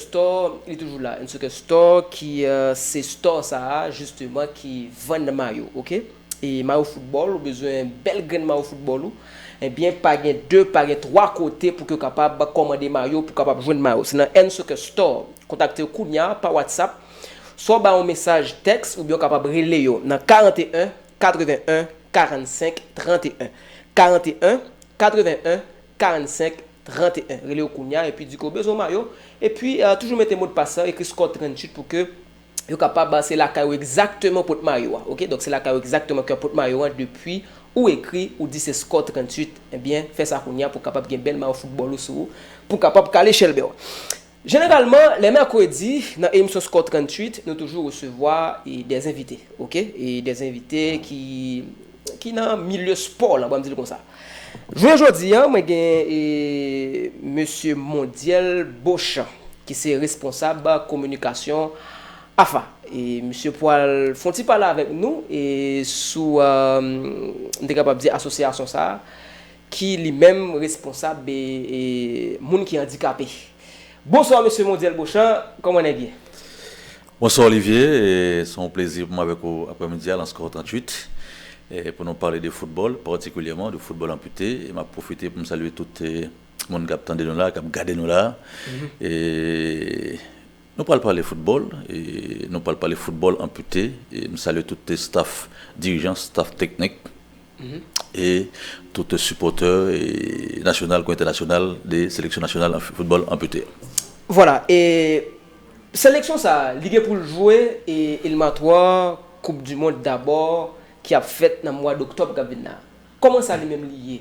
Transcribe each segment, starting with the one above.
Store li toujou la It's ok store ki se store sa a justement ki vann mayo ok e mayo football ou bezwen bèl grenn mayo football ou ebyen pa gen 2 pa gen 3 kote pou ke w kapab kòmande mayo pou kapab jwenn mayo se nan It's ok store kontakte yo kounya pa whatsapp swa w ba yo mesaj tèks oubyen w kapab rele yo nan 41 81 45 31 41 81 45 31 rele yo kounya epi di ke ou bezwen mayo epi toujou mete modpas la ekri score 38 pou ke yo kapab se lakay ou egzakteman pot mayo a ok donk se lakay ou egzakteman ke wap pot mayo an depi ou ekri ou di se score 38 ebyen fè sa kounya pou kapab gen bèl mayo foutbòl ou sou ou pou kapab kale chèlbè w. Jeneralman lè mèkredi nan emisyon Score 38 nou toujou resevwa des envite ok des envite ki ki nan milye spò lan banm dil konsa jounen jodi an mwen gen mesye Mondyèl Bochan ki se responsab kominikasyon AFA misye pwal fon ti pale avèk nou sou m te kapab di asosyasyon sa ki li menm responsab moun ki andikape. Bonsoir Mesye Mondyèl Bochan, kòman nèg ye? Bonsoir Olivier, se yon plezi pou mwen avèk ou aprè midi a lan Score 38 pou nou pale de foutbòl, patikilyèman de foutbòl anpute. E map pwofite pou m salye tout moun kap tande nou la, kap gade nou la. E nou pral pale foutbòl, e nou pral pale foutbòl anpute. E m salye tout staff dirijan, staff teknik. e tout sipòtè nasyonal kou entènasyonal de seleksyon nasyonal football anpute. Vwala e seleksyon sa li gen poul jwe e elimatwa koup du mond dabò ki ap fèt nan mwa doktòb kap vin la. Kòman sa li menm li ye?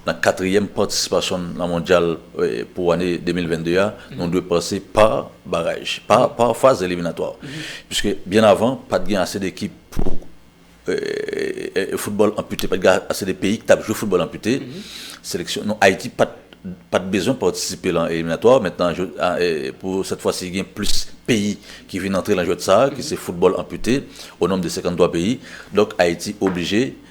Nan katriyèm patisipasyon n nan Mondyal pou ane 2022 a, nou dwe pase pa baraj, pa faz eliminatwa. Piske byen avan, pa t gen ase de ekip pou foutbòl anpite, pa t gen ase de peyi ki t ap jwe foutbòl anpite. Seleksyon nou, Ayiti pa t bezwen patisipe lan eliminatwa. Mentnan, pou sèt fwa si, gen plis peyi ki vin antre lan jwèt sa a, ki se foutbòl anpite, o nonb de 53 peyi. Donk Ayiti oblije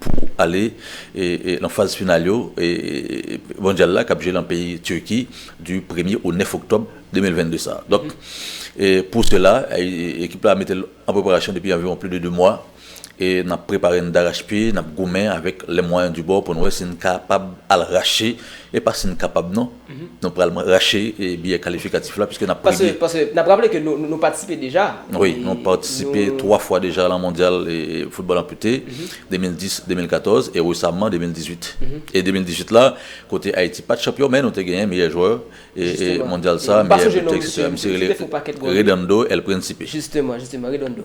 pou ale nan faz final yo mondyal la kap jwe nan peyi Turki du premye o 9 oktòb 2022 sa. Donk pou sela ekip la metel an preparasyon depi anviwon pli de 2 mwa e nap prepare'n darachpye, nap goumen avèk lè mwayen du bò pou'n wè si'n kapab al rache e pa si'n kapab non. Nou pral rache biyè kalifikatif la piske n ap premye. Paske n ap raple ke nou patisipe deja. Wi, nou patisipe 3 fwa deja lan mondyal foutbòl anpute, 2010, 2014 e resamman 2018. E 2018 la, kote Ayiti pa t chanpyon men nou te genyen meyè jwè mondyal sa, meyè bitè eksetera. Misye rele Redondo El Principe. Jisteman, jisteman, Redondo.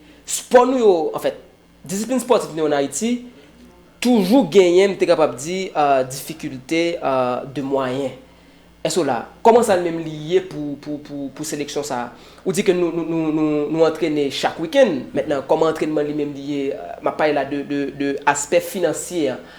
Spò nou yo, anfèt, disiplin spòtif nou yo an Ayiti, toujou genyen, m te kapab di, difikilte de mwayen. Èske w la? Kòman sa li menm li ye pou seleksyon sa a? Ou di ke nou antrene chak wikenn. Mentnan, kòman antrènman li menm li ye? M ap pale la de aspè finansye an.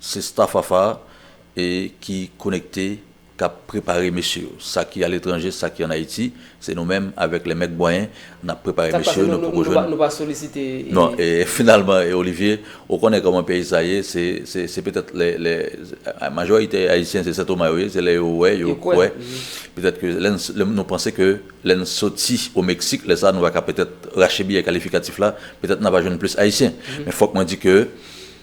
Se staff Wafa e ki konekte kap prepare mesye yo. Sa ki aletranje, sa ki an Ayiti, se nou menm avèk lè mèg bwayen nap prepare Sak mesye pase yo nou nou poko nou jwenn. pa nou pa solisite e. Non e finalman e Olivier ou konnen kòman peyi sa ye se se se petèt lè lè majorite Ayisyen se Sentoma yo ye se lè yo wè yo Yo kwè kwè nan. petèt ke lè n lè nou panse ke lè n soti o Meksik lè sa nou va ka petèt rache biyè kalifikatif la petèt na va jwenn plis Ayisyen men fòk mwen di ke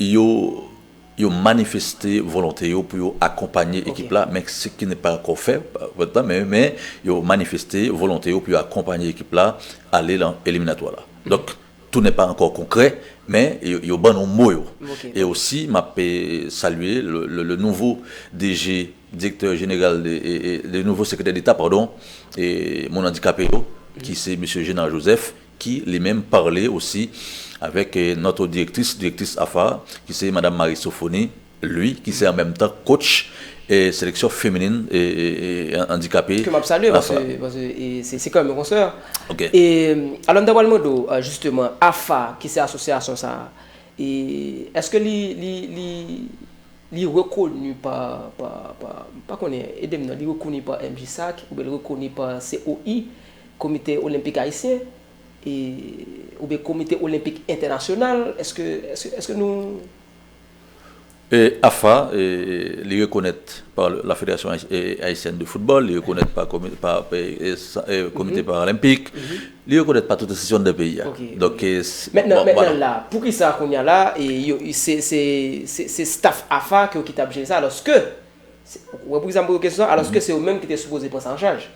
Yo yo manifeste volonte yo pou yo akonpanye ekip la, men se ki ne pa ankò fè, men yo manifeste volonte yo pou yo akonpanye ekip la ale lan eliminatwa la. Donk tou ne pa ankò konkrè, men yo ban nou mo yo. E osi m ap salye le nouvo DG, Direktè Jeneral, le nouvo Sekretè Deta, padon, Moun Andikape yo, ki se Mesye Genard Joseph, ki li menm parle osi avèk notre directrice, direktris AFA a, ki se madam Marie Sophonie Louis, ki se an menm tan coach seleksyon feminin andikape Ke m ap salye paske se se kè m yon konsè Ok. e alò m ta pral mande w jisteman AFA ki se asosyasyon sa a e èske li li li li rekoni pa pa pa m pa konnen ede m nan li rekoni pa MJSAC oubyen li rekoni pa COI Komite Olenpik Ayisyen e oubyen Komite Olenpik Entènasyonal, èske, èske, èske nou. E AFA, e li rekonèt pa la Federasyon Ayisyèn de Foutbòl, li rekonèt pa komi, pa e Komite Paralenpik, li rekonèt pa tout enstitisyon anndan peyi a. Donk e, bon, vwala. Mètnan, mètnan la, poukisa kounye a la, e yo, se, se, se, se staf AFA ke yo ki t ap jere sa, alòske, se, ou wè poukisa m poze w kesyon sa, alòske se yo menm ki te sipoze pran sa an chaj.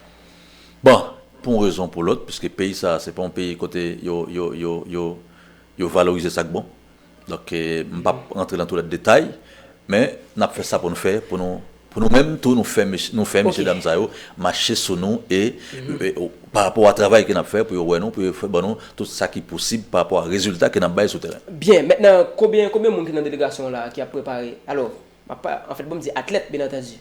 Bon, pou yon rezon ou pou lòt, piske peyi sa a se pa yon peyi kote yo valorize sa k bon, donk m p ap rantre nan toulède detay, men n ap fè sa pou nou fè pou nou menm tou nou fè mesye dam sa yo mache sou nou e parapò a travay ke n ap fè pou yo wè nou, pou yo fè ban nou tout sa ki posib parapò a rezilta ke n ap bay sou teren. Byen, mètnan konbyen moun ki nan delegasyon w la a ki ap prepare, alò, anfèt pou m di atlèt byenantandi,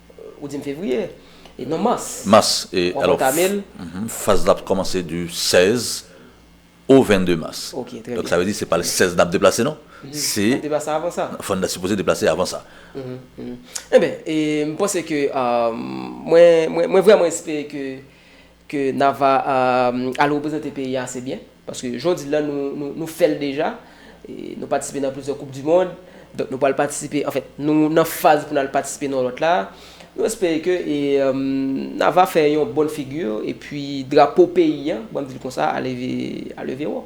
Ou di m fevriye e non mas. Mas e alo faz la ap komanse di 16 o 22 mas. Ok trè byen. Donk sa vle di se pa le 16 n ap deplase non. Se. N ap deplase avan sa. Fò n ta sipoze deplase avan sa. Enben e m panse ke mwen mwen vrèman espere ke Ke Nava al reprezante peyi a ase byen. Paske jan w di l la nou fè l deja. Nou patisipe nan plizyè koup dimond. Donk nou pral patisipe, anfen nou nan faz pou n al patisipe nan yon lòt la. Nou espere ke Nava fè yon bon figi epi drapo peyi a, ban m di l konsa, a leve wo.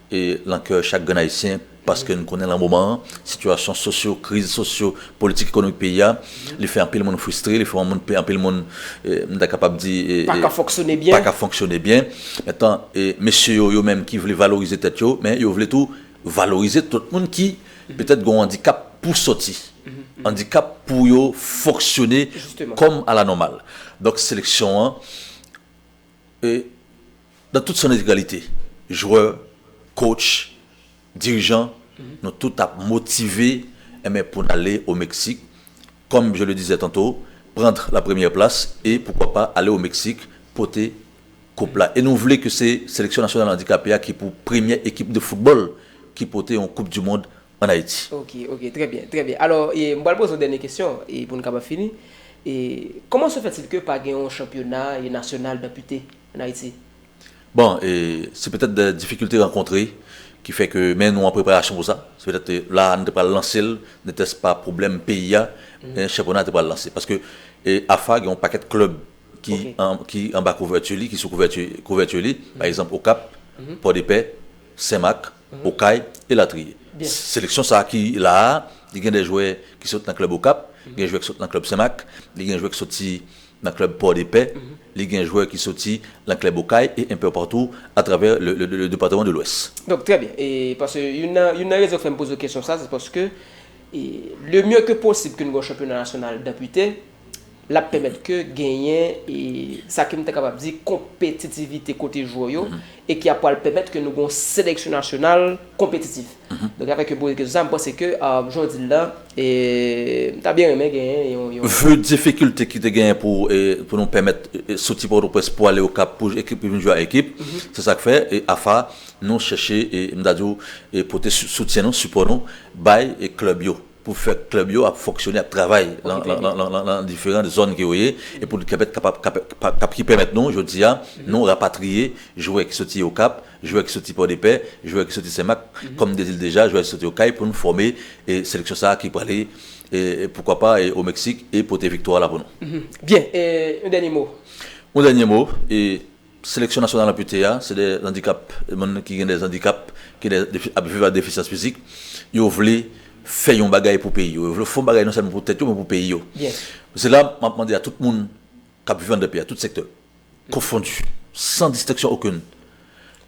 e lan kè chak grenn ayisyen paske n konnen lan moman an sitiyasyon sosyo kriz sosyo politik ekonomik peyi a li fè anpil moun fristre li fè moun anpil moun m ta kapab di e pa ka fonksyone byen pa ka fonksyone byen etan e mesye yo yo menm ki vle valorize tèt yo men yo vle tou valorize tout moun ki petèt gon andikap pou sòti andikap pou yo fonksyone kòm a la nòmal donk seleksyon an e. Dan tout san entegralite, jwè, kotch, dirijan, nou tout ap motive enben pou n ale o Meksik, kòm je le dizè tanto, prandr la premyè plas e poukwa pa ale o Meksik pote koup la. E nou vle ke se seleksyon nasyonal andikape a ki pou premyè ekip de foutbòl ki pote yon koup di mond ann Ayiti. Ok, ok, trè byen, trè byen. Alò, e m pral poze w dènye kesyon e pou n kapab fini. E kòman se fèt-il ke pa gen yon chanpyona e nasyonal danpite an Ayiti? Bon, se petèt de difikilte rankontre ki fè ke, men nou an preparasyon pou sa. Se petèt la a nou te pral lanse l, nètès pa pwoblèm peyi a, chanpyona a te pral lanse. Paske AFA gen yon pakèt klèb ki anba kouvèti li, ki sou kouvèti li, pa egzanp Okap, Pòdepè, Senmak, Okay, elatriye. Seleksyon sa a ki la a, li gen de jwè ki sot nan klèb Okap, gen jwè ki sot nan klèb Senmak, li gen jwè ki soti Nan klèb Pòdepè, li gen jwè ki soti lan klèb Okay e enpè patou a travè le departeman de Lwès. Donk trè byen. E pase youn nan youn nan rezon k fè m poze w kesyon sa se paske e le mye ke posib ke n gen yon chanpyona nasyonal danpite, l ap pèmèt ke genyen e sa ke m ta kapab di konpetitivite kote jwè yo e ki ap pral pèmèt ke nou gen yon seleksyon nasyonal konpetitif. Donk avèk yon pwosesis konsa, m panse ke jan w di l la, m ta byen renmen genyen yon. Vu difikilte ki te genyen pou nou pèmèt soti Pòtoprens pou ale Okap pou ekip yo vin jwe a ekip, se sa k fè AFA nou chèche, m ta di w, pote soutyen nou, sipò nou bay klèb yo. pou fè klèb yo ap fonksyone, ap travay nan diferan zòn ke yo ye, e pou pèmèt kapab, ki pèmèt nou jodi a, nou rapatriye jwè ki soti Okap, jwè ki soti Pòdepè, jwè ki soti Senmak, kòm m te di l deja, jwè ki soti Okay pou nou fòme seleksyon sa a ki prale, poukwa pa, o Meksik e pote viktwa la pou nou. Byen, yon dènye mo? Yon dènye mo, Seleksyon nasyonal anpite a se de andikap moun ki gen de andikap ki ap viv ak defisyans fizik yo vle fè yon bagay pou peyi yo yo vle fè yon bagay non sèlman pou tèt yo men pou peyi yo se la m ap mande a tout moun k ap viv anndan peyi a tout sektè konfondi san distenksyon okenn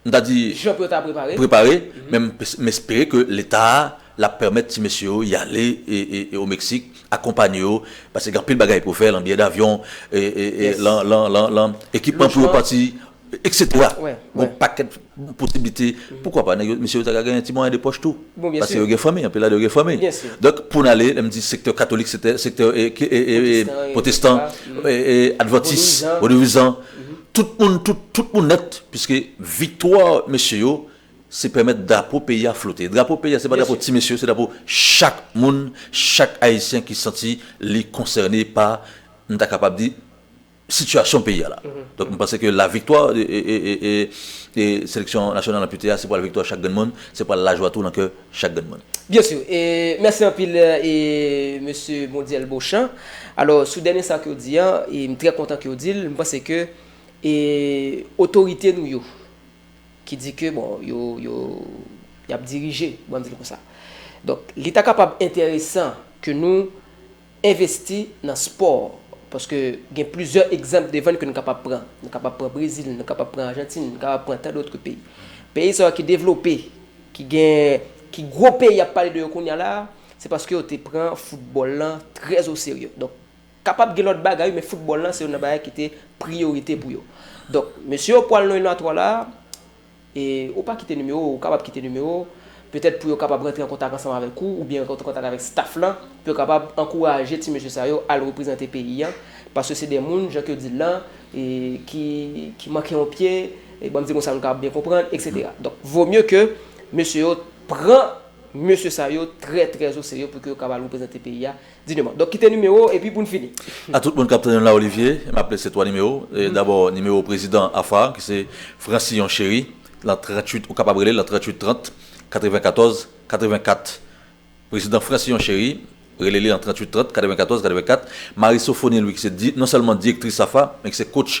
M ta di prepare men m espere ke leta a la pèmèt ti mesye yo y ale o Meksik akonpanye yo paske gen anpil bagay pou yo fè lan biyè davyon lan ekipman pou yo pati eksetera gen on pakèt posiblite poukwa pa nèg yo mesye yo ta ka gen ti mwayen de pòch tou paske yo gen fanmi anpil ladan yo gen fanmi donk pou n ale lè m di sektè katolik sektè pwotestan advantis vodouizan Tout moun tout tout moun nèt piske viktwa mesye yo se pèmèt drapo peyi a flote. Drapo peyi a se pa drapo ti mesye se drapo chak moun, chak ayisyen ki santi li konsène pa m ta kapab di sitiyasyon peyi a la. Donk m panse ke laviktwa seleksyon nasyonal anpite a se pral viktwa chak grenn moun, se pral lajwa tou nan kè chak grenn moun. Bien sûr e mèsi anpil e mesye Mondyèl Beauchamp alò sou dènye sa ke w di an e m trè kontan ke w di l m panse ke e otorite nou yo ki di ke bon yo yo y ap dirije bon m di l konsa donk li ta kapab enteresan ke nou Envesti nan spò, paske gen plizyè egzanp devan n ke n kapab pran. Nou kapab pran Brezil, nou kapab pran Ajantin, nou kapab pran tandòtre peyi. Peyi sa yo ki devlope, ki gen, ki gwo peyi y ap pale de yo kounya la a, se paske yo te pran foutbòl lan trè o serye. Donk, kapab gen lòt bagay wi, men foutbòl lan se youn nan bagay ki te priyorite pou yo. Donk, mesye yo pwal nan eliminatwa la a, E ou pa kite nimewo ou, ou kapab kite nimewo ou, petèt pou yo kapab rantre an kontak ansanm avèk ou, oubyen rantre an kontak avèk staff lan, pou yo kapab ankouraje ti mesye sa yo al reprezante peyi an, paske se de moun, jan ke yo di l lan, ki, ki manke yon pye, banm di l konsa nou kapab byen konprann, eksetera. Donk, vo mye ke mesye yo pran mesye sa yo trè trè o serye pou ke yo kab al reprezante peyi a, Dinema. Donk kite nimewo w epi pou n fini. A tout moun k ap tande m la Olivye, m ap lese twa nimewo. Dabò nimewo prezidan AFA a ki se Francillon Chéry lan 38, ou kapab rele l lan 38 30 94 84. Prezidan Francillon Chéry, rele li lan 38 30 94 84. Marie Sophonie Louis ki se non sèlman direktris AFA men ki se kotch